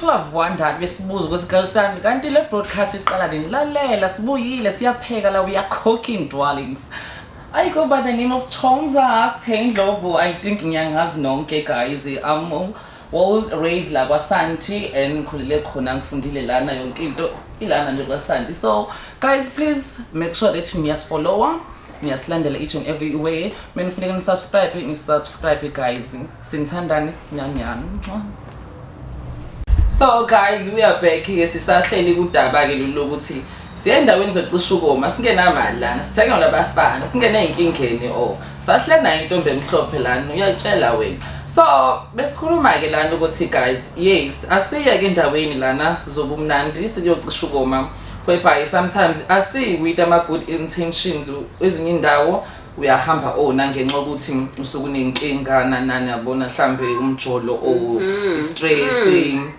people have wondered besibuza ukuthi girl sami kanti le broadcast iqala nini lalela sibuyile siyapheka la we are cooking darlings ayikho by the name of chomza sthe indlovu i think ngiyangazi nonke guys um, Well raised la kwaSanti and ngikhulele khona ngifundile lana yonke into ilana nje kwaSanti. So guys please make sure that niyasifollowa niyasilandela each and every way menifuneka nisubscribe nisubscribe guys sinithandani nyanyani so guys we are back ke sisahleli kudaba ke lolu lokuthi siye endaweni zocisha ukoma singenamali lana sithengelwa abafana singene ey'nkingeni o sahleli nayo intombi emhlophe lana uyatshela wena so besikhuluma-ke lana ukuthi guys yes asiyeke endaweni lana zobumnandi siyocisha ukoma whereby sometimes asiyi with ama-good intentions ezinye indawo uyahamba ona oh, ngenxa yokuthi usuke unenkinga nanani yabona mhlawumbe umjolo or mm-hmm. istress mm.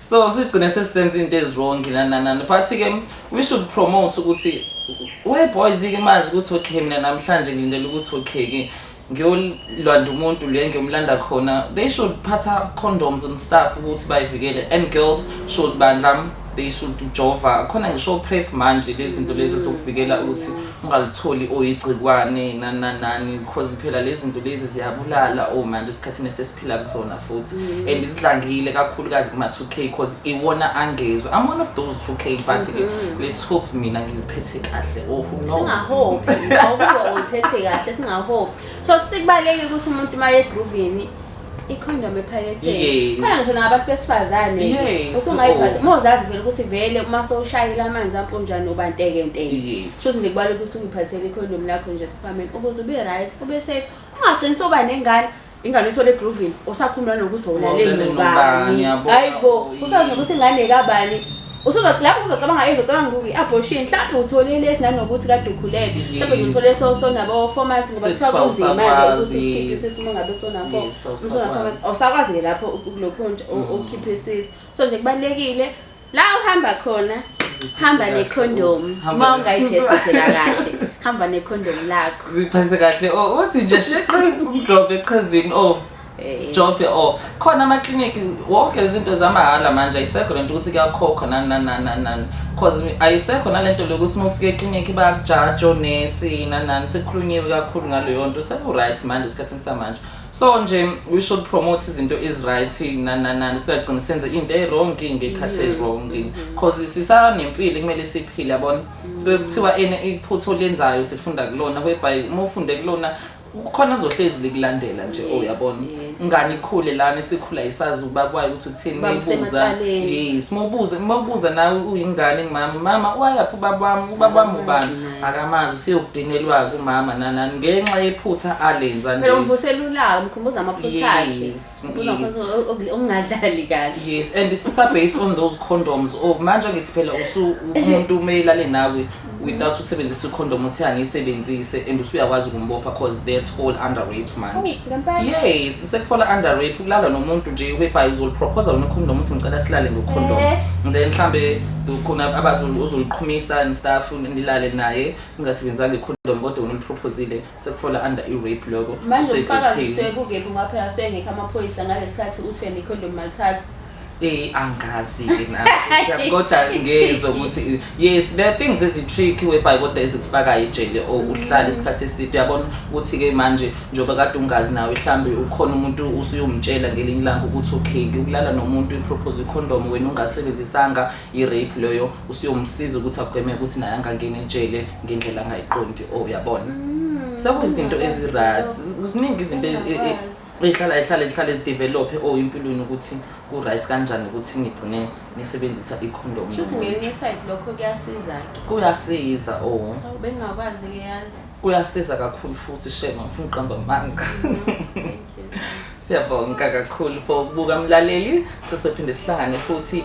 so sigcine sesisenza into ezirongi nananani but ke we should promote ukuthi we boys ke mazi ukuthi okay mina namhlanje ngilindele ukuthi okay ke ngiyolanda umuntu le ngiyomlanda khona they should phatha condoms and stuff ukuthi bayivikele and girls should bandla they should jova khona ngisho prep manje lezinto lezi zokuvikela ukuthi ungalitholi oyigcikwane nananani because phela lezinto lezi ziyabulala oh manje isikhathini phila kuzona futhi mm. and isidlangile kakhulukazi kuma 2k because iwona angezwe i'm one of those 2k but mm -hmm. let's hope mina ngiziphethe kahle oh who knows singahope awukuwa uyiphethe kahle singahope so sikubalekile ukuthi umuntu maye groovini ikhondom ephaketheni khona ngizona ngabantu besifazane usungayiphathi uma uzazi vele ukuthi vele uma sowushayile amanzi amponjani uba ntekenteke shuthi nje kubalula ukuthi ungiphathele ikhondom lakho nje siphameni ukuze ube right ube safe ungagcini soba nengane ingane ithole egruvini usakhuluma nokuthi ulalele nobani hayi bo usazi nokuthi ingane kabani lapho uzocabanga yini uzocabanga kuki abortion mhlawumbe uthole lesi nanokuthi kade ukhulele mhlawumbe uthole so so nabo format ngoba kuthiwa kunzima ke ukuthi usikhiphe sisi uma ngabe sona fo usona format awusakwazi ke lapho kulokho nje okhiphe sisi so nje kubalekile la uhamba khona hamba nekhondomu uma ungayiphethe phela kahle hamba nekhondomu lakho ziphathe kahle o oh, uthi nje sheqe umdlobhe eqhazini o oh. eh. jobhe o oh. khona amaklinikhi wonke izinto zamahhala manje ayisekho lento ukuthi kuyakhokhwa nani nani nani nani cause ayisekho nalento lokuthi uma ufika eklinikhi bayakujaja onesi nani nani sekukhulunyiwe kakhulu ngaleyo nto seku-right manje esikhathini samanje so nje we should promote izinto eziright nananani singagcini senze into ewrong ngekhathi mm-hmm. ewrong mm-hmm. cause sisanempilo kumele siphile yabona mm-hmm. kuthiwa ene iphutho lenzayo sifunda kulona whereby uma ufunde kulona kukhona ozohlezi likulandela nje oyabona oh, ngani ikhule lana sikhula isazi ubabwayo ukuthi uthini mayibuza yes mobuza mobuza nawe uyingane mama mama wayaphi ubabami ubabami ubani Akamazi useyokudinelwa-ke umama nanani ngenxa yephutha alenza nje. Phela umvusela ulaka umkhumbuza amaphutha akhe. Yes, Umkhumbuza yes. amaphutha ok- ok- okungadlali kahle. Yes, and sisa based on those condoms. Oh, manje ngithi phela usu umuntu umelale nawe without ukusebenzisa icondom uthi angiyisebenzise and usuyakwazi ukumbopha cause that's fall under rape Oh, manje. ngempela. Yes, sekufala under rape ukulala nomuntu nje webhayi uzoliproposa wena condom uthi ngicela silale ngocondom. Eh. And then mhlambe khona abazulu uzoliqhumisa and stuff. nilale naye ningasebenzanga icondom kodwa wena uliprophozile sekufola under i-rape loko manje umfakazi usekukephi ngoba phela asengekho amaphoyisa ngalesikhathi uthi wena icondom malithatha Eh angazi ke na. Kodwa ngezwe ukuthi yes there are things ezitricky webhayi kodwa ezikufaka ejele or mm. uhlala isikhathi eside uyabona ukuthi ke manje njoba kade ungazi nawe mhlambe ukhona umuntu usuyomtshela ngelinye ilanga ukuthi okay ngikulala nomuntu i propose condom wena ungasebenzisanga I rape loyo usuyomsiza ukuthi agweme ukuthi naye angangeni ejele ngendlela angayiqondi oh uyabona mm, sekuyizinto mm, ezi right kuziningi izinto ezihlala ehlale ezihlale ezidevelophe oh impilweni ukuthi ku right kanjani ukuthi ngigcine ngisebenzisa i condom futhi ngenye side lokho kuyasiza ke kuyasiza oh bengakwazi ke yazi kuyasiza kakhulu futhi shema ngifuna uqamba manga mm, siyabonga kakhulu for ukubuka mlaleli sesophinde sihlangane futhi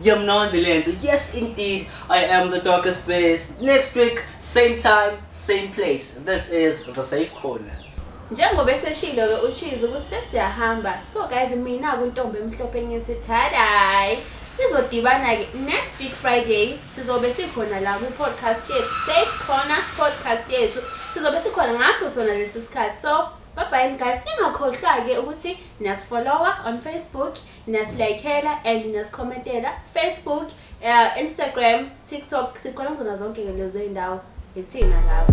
Ngiyamnonde lento. Yes indeed, I am the darkest bears. Next week, same time, same place. This is the safe corner. Njengoba eseshilo ke uChizi ukuthi sesiyahamba. So guys mina kuntombi emhlophe ngithi thaday. Sizodibana ke next week Friday sizobe sikhona la ku podcast yethu Safe Corner podcast yethu. Sizobe sikhona ngaso sona lesi sikhathi. So bye bye guys. Ningakhohlwa ke ukuthi niyasifollowa on Facebook Niyasilayikhela and niyasicommentela Facebook, uh, Instagram, TikTok sikhona kuzona zonke ke lezo iy'ndawo yithina lapho.